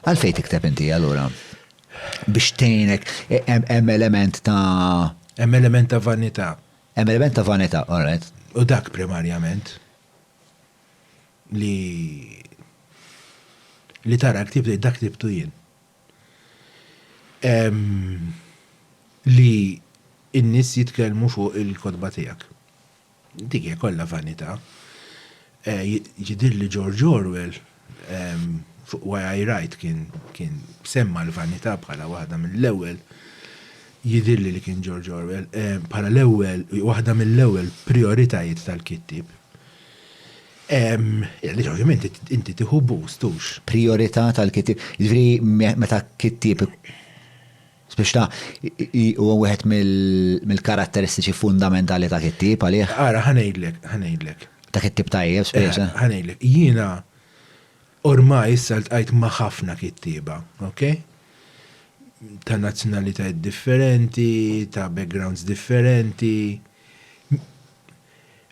Għalfejn tikteb inti allura? Biex tgħinek hemm element ta' Hemm element ta' vanità. Hemm element ta' vanità, all right. U dak primarjament li li tara ktieb li dak ktibtu jien. Li n-nies jitkellmu fuq il-kotba tiegħek. Dik hija kollha vanità. Jidhirli George Orwell fuq Why I Write kien semma l-vanità bħala waħda mill-ewwel, jidhirli li kien George Orwell, bħala l-ewwel, waħda mill-ewwel prijoritajiet tal-kittieb. Għaliex ovvjament inti tieħu boost, hux? Prijorità tal-kittieb. Jiġifieri meta kittieb Spiċċa huwa wieħed mill-karatteristiċi fundamentali ta' kittib għalih. Ara, ħanejdlek, ħanejdlek. Ta' kittib tajjeb, spiċċa. Eh, ħanejdlek, jiena ormai issa ltqajt ma' ħafna kittieba, ok? Ta' nazzjonalitajiet differenti, ta' backgrounds differenti.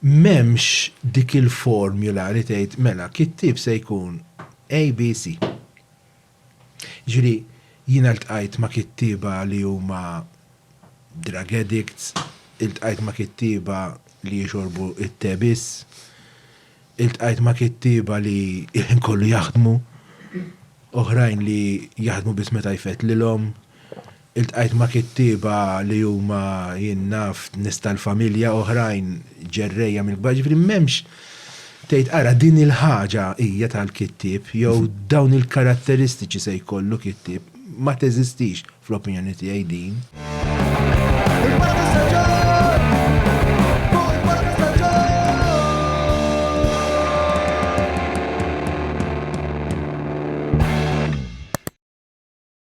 M'hemmx dik il-formula li tgħid mela kittib se jkun ABC. Jiġifieri jiena ltqajt ma' kittieba li huma drug addicts, iltqajt ma' kittieba li jixorbu t-te biss, iltqajt ma' kittieba li l-ħin kollu jaħdmu, oħrajn li jaħdmu biss meta jfett lilhom. Iltqajt ma' kittieba li huma, jien naf, nies tal-familja, oħrajn ġerrejja mill-kbar, jiġifieri m'hemmx tgħid ara din il-ħaġa hija tal-kittieb jew dawn il-karatteristiċi se jkollu kittieb, ma teżistix fl-opinjoni tiegħi din.